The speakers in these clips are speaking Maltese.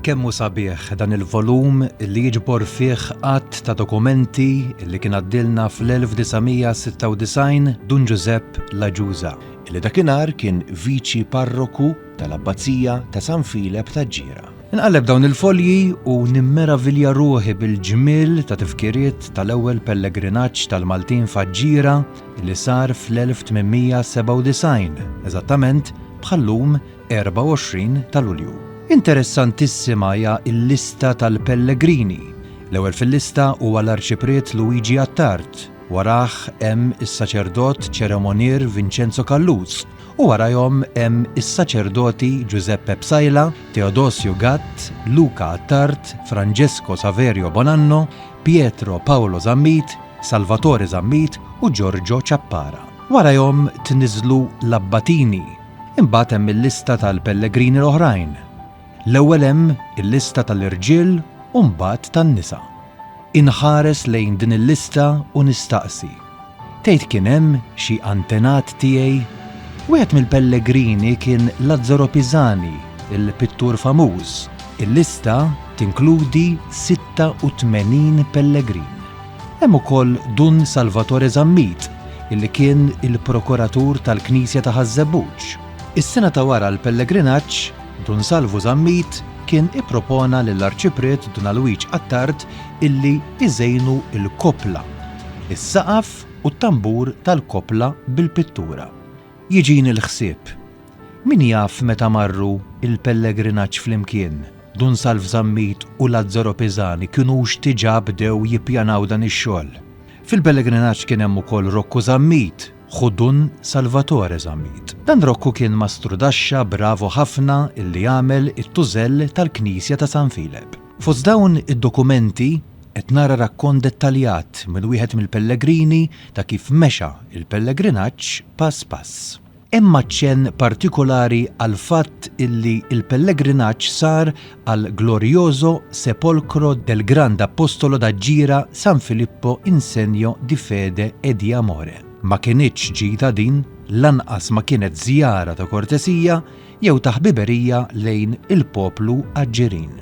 Kemm hu sabiħ dan il-volum li jiġbor fih għadd ta' dokumenti li kien għaddilna fl-1996 Dun Ġużepp Laġuża, li dakinhar kien viċi parroku tal-Abbazija ta' San Filep taġ-Ġira. Inqalleb dawn il-folji u nimmeravilja ruħi bil-ġmiel ta' tifkiriet tal-ewwel pellegrinaġġ tal-Maltin f'Aġġira li sar fl-1897, eżattament bħal-lum 24 ta' Lulju. Interessantissima hija l-lista tal-pellegrini. L-ewwel fil-lista huwa l-Arċipriet Luigi Attard, warajh hemm is-Saċerdot Ċeremonier Vinċenzo Calluz, u warajhom hemm is-saċerdoti Ġużeppe Psaila, Teodosju Gatt, Luca Attard, Franġesko Saverio Bonanno, Pietro Paolo Zammit, Salvatore Zammit u Ġorġo Ciappara. Warajhom tniżżlu l-abbatini. Imbagħad hemm il-lista tal-pellegrini l-oħrajn. L-ewwel hemm il-lista tal-irġiel u mbagħad tan-nisa. Inħares lejn din il-lista u nistaqsi, Tgħid kien hemm xi antenat tiegħi? Wieħed mill-pellegrini kien Lazzaro Pisani, il-pittur famuż. Il-lista tinkludi 86 pellegrin. Hemm ukoll Dun Salvatore Zammit, illi kien il-prokuratur tal-knisja ta' Ħaż-Żebbuġ. Is-sena ta' wara l-pellegrinaġġ Dun Salvu Zammit kien ippropona lill-Arċipriet Dun Alwiġ Attard illi iżejnu l-koppla, is-saqaf u t-tambur tal-koppla bil-pittura. Jiġini l-ħsieb, min jaf meta marru l-pellegrinaġġ flimkien, Dun Salv Zammit u Lazzaro Pisani kinux diġà bdew jippjanaw dan ix-xogħol. Fil-pellegrinaġġ kien hemm ukoll Rokku Zammit, Hu Dun Salvatore Zammit. Dan Rokku kien mastrudaxxa bravu ħafna illi għamel it-tużell tal-knisja ta' San Filep. Fost dawn id-dokumenti qed nara rakkont dettaljat minn wieħed mill-pellegrini ta' kif mexa l-pellegrinaġġ pass pass. Hemm aċċenn partikolari għall-fatt illi l-pellegrinaġġ sar al glorioso sepolcro del grand Apostolo da Gira San Filippo in segno di fede e di amore. Ma kinitx ġita din, lanqas ma kienet żjara ta' kortesija jew ta' ħbiberija lejn il-poplu Aġġirin.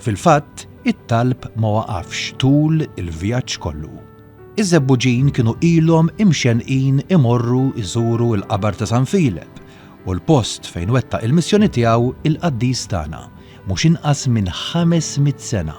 Fil-fatt, it-talb ma waqafx tul il-vjaġġ kollu. Iż-Żebbuġin kienu ilhom imxennqin imorru jżuru l-qabar ta' San Filep u l-post fejn wettaq il-missjoni tiegħu il-qaddis tagħna mhux inqas minn ħames mitt sena,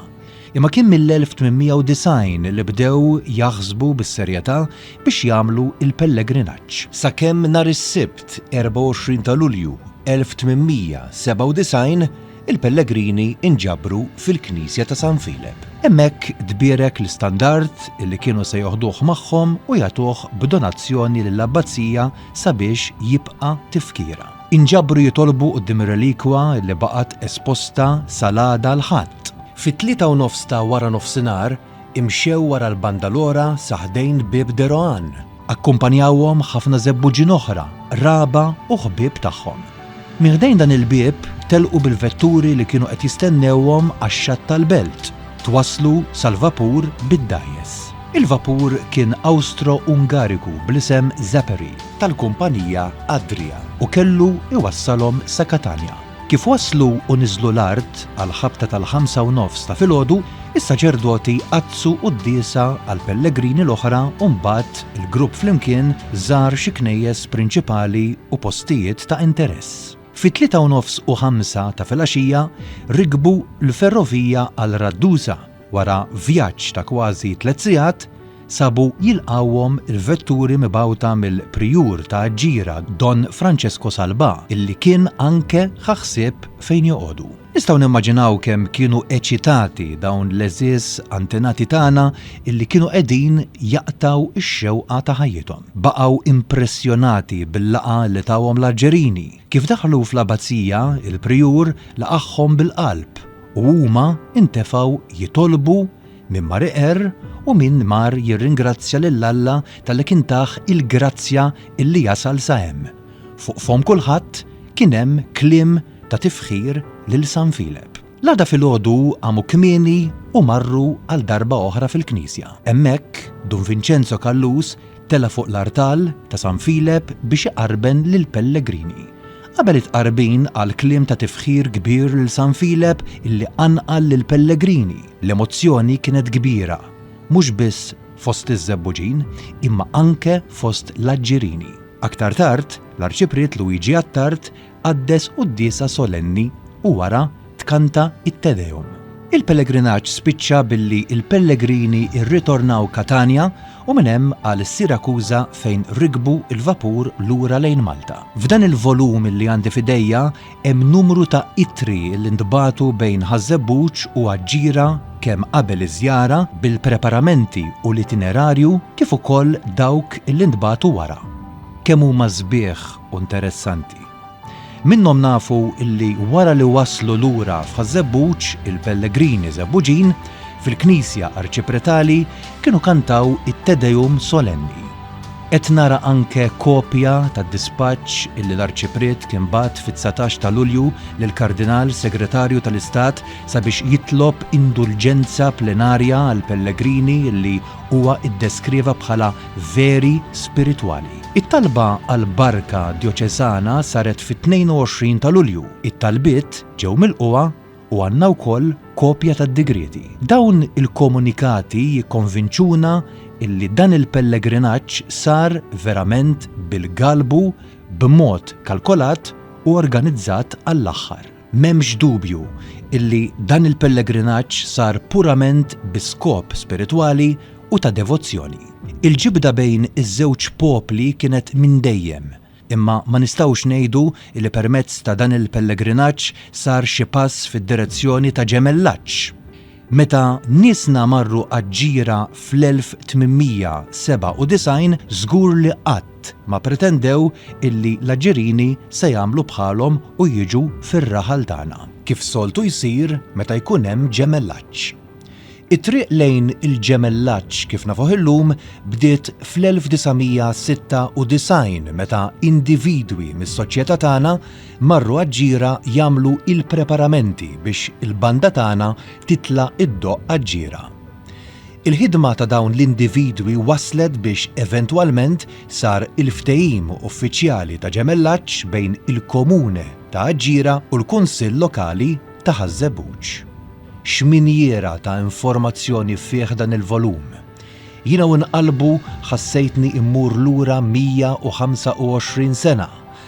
imma kien mill-1890 li bdew jaħsbu bis-serjetà biex jagħmlu l-pellegrinaġġ. Sakemm nhar is-Sibt 24 ta' Lulju 1897 il-pellegrini nġabru fil-knisja ta' San Filep. Hemmhekk tbierek l-istandard li kienu se joħduh magħhom u jagħtuh b'donazzjoni lill-abbazija sabiex jibqa' tifkira. Inġabru jitolbu quddiem ir-relikwa li baqgħet esposta sal-għada l-Ħadd. Fit-tlieta u nofs ta' waranofsinhar imxew wara l-banda l-ora sa ħdejn bieb De Rohan. Akkumpanjawhom ħafna żebbuġin oħra, qraba u ħbieb tagħhom. Minn ħdejn dan il-bieb telqu bil-vetturi li kienu qed jistennewhom għax-xatt tal-belt. Twasslu sal-vapur bid-dgħajjes. Il-vapur kien Awstro-Ungariku bl-isem Zeperi tal-kumpanija Adria u kellu iwassalhom sa Katanja. Kif waslu u niżlu l-art għall-ħabta tal-ħamsa u nofs ta' filgħodu, Is-saċerdoti għaddsu quddiesa għall-pellegrini l-oħra u mbagħad il-grupp flimkien żar xi knejjes prinċipali u postijiet ta' interess. Fit-tlieta u nofs u ħamsa ta' filgħaxija rikbu l-ferrovija għal Raddusa. Wara vjaġġ ta' kważi tliet sigħat, sabu jilqgħuhom il-vetturi mibgħuta mill-prijur ta' Aġġira Don Francesco Salbà illi kien anke ħa ħsieb fejn joqogħdu. Nistgħu nimmaġinaw kemm kienu eċitati dawn l-għeżież antenati tagħna illi kienu qegħdin jaqtgħu x-xewqa ta' ħajjithom. Baqgħu impressjonati bil-laqgħa li tawhom l-Arġerini. Kif daħlu fl-Abbazija, il-Prijur laqagħhom bil-qalb u huma ntefgħu jitolbu min mar iqerr u min mar jirringrazzja lil Alla talli kien tah il-grazzja illi jasal sa hemm. Fuq fomm kulħadd kien hemm kliem ta' tifħir lil San Filep. L-għada filgħodu qamu kmieni u marru għal darba oħra fil-knisja. Hemmhekk, Dun Vinċenzo Callus tela' fuq l-artal ta' San Filep biex iqarben lill-pellegrini. Qabel it-tqarbin qal kliem ta' tifħir kbir lil San Filep illi qanqal lill-pellegrini. L-emozzjoni kienet kbira, mhux biss fost iż-Żebbuġin, imma anke fost l-Aġġirini. Aktar tard, l-Arċipriet Luigi Attard qaddes quddiesa solenni u wara tkanta it-Te Deum. Il-pellegrinaġġ spiċċa billi l-pellegrini rritornaw Catania u minn hemm għal Sirakuża fejn rikbu l-vapur lura lejn Malta. F'dan il-volum li għandi f'idejja hemm numru ta' ittri li ntbagħtu bejn Ħaż-Żebbuġ u Aġġira kemm qabel iż-żjara bil-preparamenti u l-itinerarju kif ukoll dawk li ntbagħtu wara. Kemm huma sbieħ u interessanti. Minnhom nafu illi wara li waslu lura f'Ħaż-Żebbuġ, il-pellegrini Żebbuġin, fil-knisja arċipretali, kienu kantaw it-Te Deum solenni. Qed nara anke kopja tad-dispaċċ illi l-Arċipriet kien bagħat fit-dsatax ta' Lulju lill-Kardinal Segretarju tal-Istat sabiex jitlob indulġenza plenarja għall-pellegrini illi huwa ddeskrieva bħala veri spiritwali. It-talba għal barka djoċesana saret fit-22 ta' Lulju. It-talbiet ġew milqugħa u għandna wkoll kopja tad-digrieti. Dawn il-komunikati jikkonvinċuna illi dan il-pellegrinaġġ sar verament bil-galbu, b'mod kalkolat u organizzat għall-aħħar. M'hemmx dubju illi dan il-pellegrinaġġ sar purament bi skop spiritwali u ta' devozzjoni. Il-ġibda bejn iż-żewġ popli kienet minn dejjem, imma ma nistgħux ngħidu li permezz ta' dan il-pellegrinaġġ sar xi pass fid-direzzjoni ta' ġemellaġġ. Meta niesna marru għaġ-ġira fl-1897 żgur li qatt ma pretendew illi l-Aġirini se jagħmlu bħalhom u jiġu fir-raħal tagħna, kif soltu jsir meta jkun hemm ġemellaġġ. It-triq lejn il-ġemellaġġ kif nafuh illum bdiet fl-1996 meta individwi mis-soċjetà tagħna, marru għaġ-Ġira jagħmlu il-preparamenti biex il-banda tagħna titla' iddoqq għaġ-Ġira. Il-ħidma ta' dawn l-individwi wasslet biex eventwalment sar il-ftehim uffiċjali ta' ġemellaġġ bejn il-Komune ta' Aġġira u l-Kunsill Lokali ta' Ħaż-Żebbuġ. X'minjiera ta' informazzjoni fih dan il-volum! Jiena u nqallbu ħassejtni mmur lura 125 sena